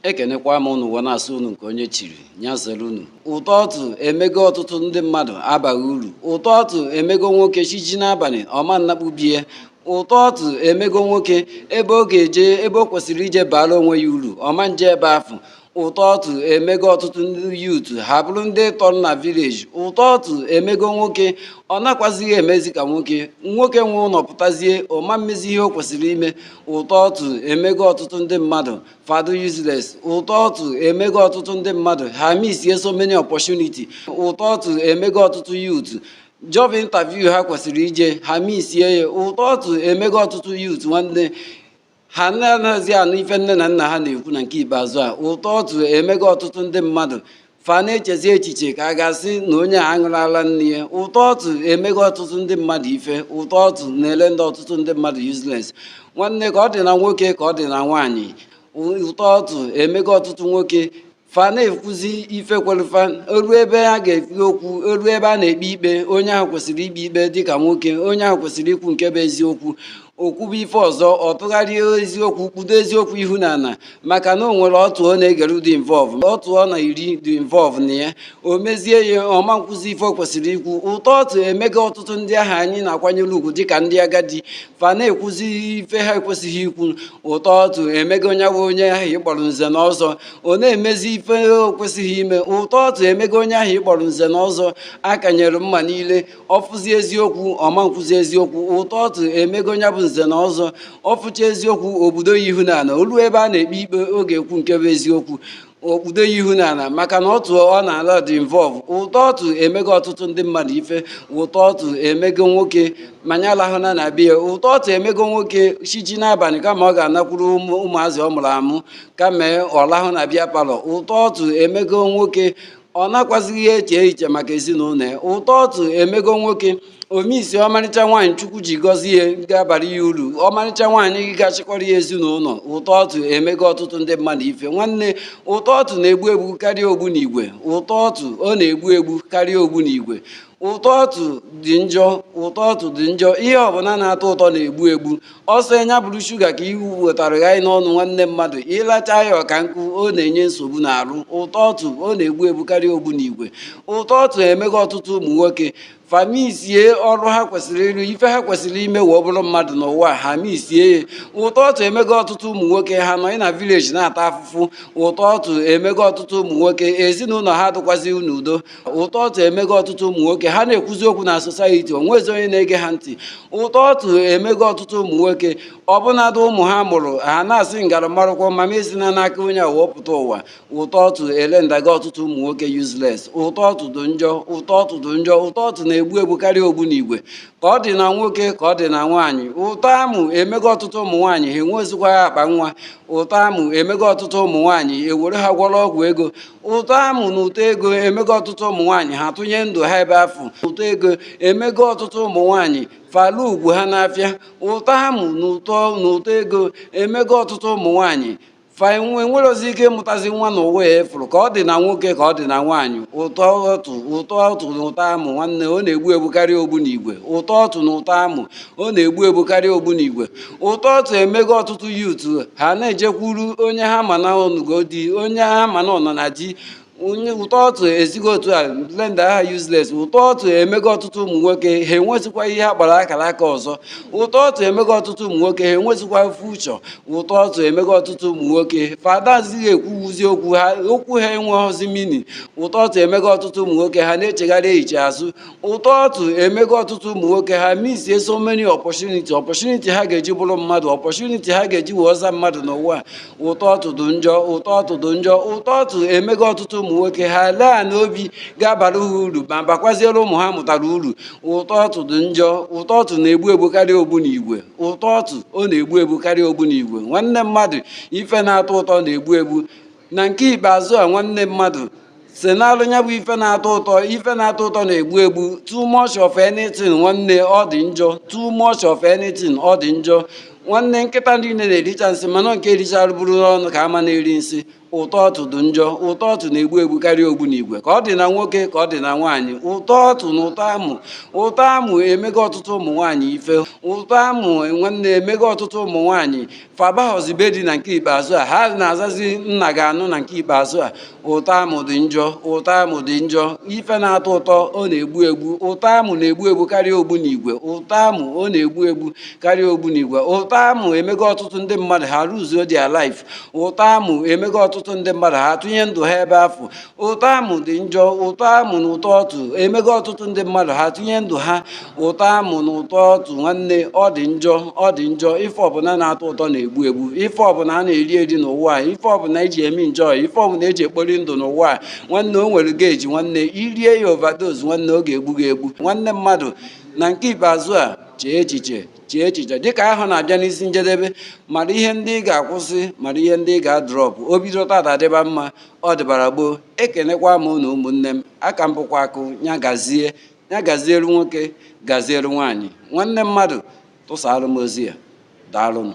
ekenekwa m unu wee na-asị unu nke onye chiri nya zere unu ụtọ ọtụ emego ọtụtụ ndị mmadụ abaghị uru ụtọ ọtụ emego nwoke chi jie n'abalị ọ ma nnakpu be ya ụtọ ọtụ emego nwoke ebe ọ ga-eje ebe o kwesịrị ije baara onwe ya uru ọ ma nje ebe afụ ụtọ ọtụ emego ọtụtụ ndị youth ha bụrụ ndị tọrọ na village ụtọ ọtụ emego nwoke ọ nakwazighị emezi ka nwoke nwoke nwe ụnọ pụtazie ọ ma mmezi ihe o kwesịrị ime ụtọ ọtụ emego ọtụtụ ndị mmadụ fa adị useless ụtọ ọtụ emego ọtụtụ ndị mmadụ ha misie so many opportunity ụtọ ọtụ emego ọtụtụ youth job interview ha kwesịrị ije ha misie ya ụtọ ọtụ emego ọtụtụ youth nwanne ha anaghịzi anụ ife nne na nna ha na-ekwu na nke ikpeazụ a ụtọ ọtụ emego ọtụtụ ndị mmadụ fa na-echezi echiche ka a ga-asị na onye a aṅụrọ ala nne ya ụtọ ọtụ emego ọtụtụ ndị mmadụ ife ụtọ ọtụ na-erender ọtụtụ ndị mmadụ useless nwanne ka ọ dị na nwoke ka ọ dị na nwaanyị ụtọ ọtụ emego ọtụtụ nwoke fa na-ekwuzi ife kweli fa o lue ebe a ga-ekpe okwu o lue ebe a na-ekpe ikpe onye ahụ kwesịrị ikpe ikpe dịka nwoke onye ahụ kwesịrị ikwu nke bụ eziokwu o kwube ife ọzọ ọ tụgharịa eziokwu kpudo eziokwu ihu n'ana maka na o nwere ọtụ ọ na-egere dị involve ọtụ ọ na-eri dị involve na ya o mezie ya ọ ma nkwuzi ife o kwesịrị ikwu ụtọ ọtụ emego ọtụtụ ndị ahụ anyị na-akwanyere ugwu dịka ndị agadi fa na-ekwuzi ife ha ekwesịghị ikwu ụtọ ọtụ emego onye bụ onye ahụ ị kpọrọ nze na ọzọ ọ na-emezi ife o kwesịghị ime ụtọ ọtụ emego onye ahụ ị kpọrọ nze na ọzọ a kanyere mma niile ọ fụzi eziokwu ọ ma nkwuzi eziokwu ụtọ ọtụ emego onye bụ nze na ọzọ ọ fụcha eziokwu o kpudo ya ihu n'ana o lue ebe a na-ekpe ikpe ọ ga-ekwu nke bụ eziokwu o kpudo ya ihu n'ana maka na ọtụ ọ na-ala dị involve ụtọ ọtụ emego ọtụtụ ndị mmadụ ife ụtọ ọtụ emego nwoke ma nya alahụna na be ya ụtọ ọtụ emego nwoke chi jie n'abalị kama ọ ga-anakwuru ụmụazị ọ mụrụ amụ kama ọ lahụ na beer parlour ụtọ ọtụ emego nwoke ọ nakwazighị eche echiche maka ezinụnọ ya ụtọ ọtụ emego nwoke o misie ọmarịcha nwaanyị chukwu ji gọzie ya ga-abara ya uru ọmarịcha nwaanyị ga-achịkọrọ ya ezinụnọ ụtọ ọtụ emego ọtụtụ ndị mmadụ ife nwanne ụtọ ọtụ na-egbu egbu karịa ogbunigwe ụtọ ọtụ ọ na-egbu egbu karịa ogbunigwe ụtọ ọtụ dị njọ ụtọ ọtụ dị njọ ihe ọbụla na-atọ ụtọ na-egbu egbu ọ sọ nya bụrụ shuga ka iwu wetara ya n'ọnụ nwanne mmadụ ịlacha ya ọka nkụ ọ na-enye nsogbu n'arụ ụtọ ọtụ ọ na-egbu egbu karịa ogbunigwe ụtọ ọtụ emego ọtụtụ ụmụ nwoke fa misie ọrụ ha kwesịrị ịrụ ife ha kwesịrị ime wee bụrụ mmadụ n'ụwa ha misie ya ụtọ ọtụ emego ọtụtụ ụmụ nwoke ha nọ na village na-ata afụfụ ụtọ ọtụ emego ọtụtụ ụmụ nwoke ezinụnọ ha adịkwazi n'udo ụtọ ọtụ emego ọtụtụ ụmụ nwoke ha na-ekwuzi okwu na society onwezi onye na-ege ha ntị ụtọ ọtụ emego ọtụtụ ụmụ nwoke ọbụnadụ ụmụ ha mụrụ ha na-asị m gara amarụkwọ ma m esina n'aka onye a wee pụta ụwa ụtọ ọtụ elendago ọtụtụ ụmụ nwoke useless ụtọ ọtụ dị njọ ụtọ ọtụ dị njọ ụtọ ọtụ na-egbu egbu karịa ogbunigwe ka ọ dị na nwoke ka ọ dị na nwaanyị ụtọ amụ emego ọtụtụ ụmụ nwaanyị ha enwezikwa akpa nwa ụtọ amụ emego ọtụtụ ụmụ nwaanyị e were ha gwọrọ ọgwụ ego ụtọ amụ na ụtọ ego emego ọtụtụ ụmụ nwaanyị ha tụnye ndụ ha ebe afụ ụtọ ego emego ọtụtụ ụmụ nwaanyị fa lee ugwu ha n'afịa ụtọ amụ na ụtọ na ụtọ ego emego ọtụtụ ụmụ nwaanyị fa enwerozi ike ịmụtazi nwa na ụwa ya efuru ka ọ dị na nwoke ka ọ dị na nwaanyị ụtọ ọtụ ụtọ ọtụ na ụtọ amụ nwanne ọ na-egbu egbu karịa ogbunigwe ụtọ ọtụ na ụtọ amụ ọ na-egbu egbu karịa ogbunigwe ụtọ ọtụ emego ọtụtụ youth ha na-ejekwuru onye ha ma na ọ nụgo di onye ha ma na ọ nọ na di ụtọ ọtụ esigo otu a lendaa ha useless ụtọ ọtụ emego ọtụtụ ụmụ nwoke ha enwezikwa ihe a kpọrọ akara aka ọzọ ụtọ ọtụ emego ọtụtụ ụmụ nwoke ha enwezikwa future ụtọ ọtụ emego ọtụtụ ụmụ nwoke fa adazighị ekwuzi okwu ha okwu ha enweghịzi meaning ụtọ ọtụ emego ọtụtụ ụmụ nwoke ha na-echegharị echiche azụ ụtọ ọtụ emego ọtụtụ ụmụ nwoke ha misie so many opportunity opportunity ha ga-eji bụrụ mmadụ opportunity ha ga-eji wee zaa mmadụ n'ụwa ụtọ ọtụ dị njọ ụtọ ọtụ dị njọ ụtọ ọtụ emego ọtụtụ ụmụ nwoke ha lee ana obi ga-abara ha uru ma bakwaziere ụmụ ha mụtara uru ụtọ ọtụ dị njọ ụtọ ọtụ na-egbu egbu karịa ogbunigwe ụtọ ọtụ ọ na-egbu egbu karịa ogbunigwe nwanne mmadụ ife na-atọ ụtọ na-egbu egbu na nke ikpeazụ a nwanne mmadụ zenalụ ya bụ ife na-atọ ụtọ ife na-atọ ụtọ na-egbu egbu too much of anything nwanne ọ dị njọ too much of anything ọ dị njọ nwanne nkịta niile na-ericha nsị mana nke richara buru n'ọnụ ka a ma na-eri nsị ụtọ ọtụ dị njọ ụtọ ọtụ na-egbu egbu karịa ogbunigwe ka ọ dị na nwoke ka ọ dị na nwaanyị ụtọ ọtụ na ụtọ amụ ụtọ amụ emego ọtụtụ ụmụ nwaanyị ife ụtọ amụ nwanne emego ọtụtụ ụmụ nwaanyị fa abahọzi be di na nke ikpeazụ a ha na-azazi nna ga-anụ na nke ikpeazụ a ụtọ amụ dị njọ ụtọ amụ dị njọ ife na-atọ ụtọ ọ na-egbu egbu ụtọ amụ na-egbu egbu karịa ogbunigwe ụtọ amụ ọ na-egbu egbu karịa ogbunigwe ụtọ amụ emego ọtụtụ ndị mmadụ ha luzuo their life ụtọ amụ emego ọtụtụ ndị mmadụ ha tụnye ndụ ha ebe afụ ụtọ amụ dị njọ ụtọ amụ na ụtọ ọtụ emego ọtụtụ ndị mmadụ ha tụnye ndụ ha ụtọ amụ na ụtọ ọtụ nwanne ọ dị njọ ọ dị njọ ife ọbụla na-atọ ụtọ na-egbu egbu ife ọbụla a na-eri eri n'ụwa a ife ọbụla eji eme njọ ife ọbụla eji ekpori ndụ n'ụwa a nwanne o nwere gauge nwanne i rie ya overdose nwanne ọ ga-egbu gị egbu nwanne mmadụ na nke ikpeazụ a chee echiche chee echiche dịka ahọ na-abịa n'isi njedebe mara ihe ndị ị ga-akwụsị mara ihe ndị ị ga-adrọpụ o bido tata dịba mma ọ dịbara gboo ekenekwa m unu ụmụnne m aka m bụkwa akụ ya gazie ya gaziere nwoke gaziere nwaanyị nwanne mmadụ tụsaara m ozi a daalụnụ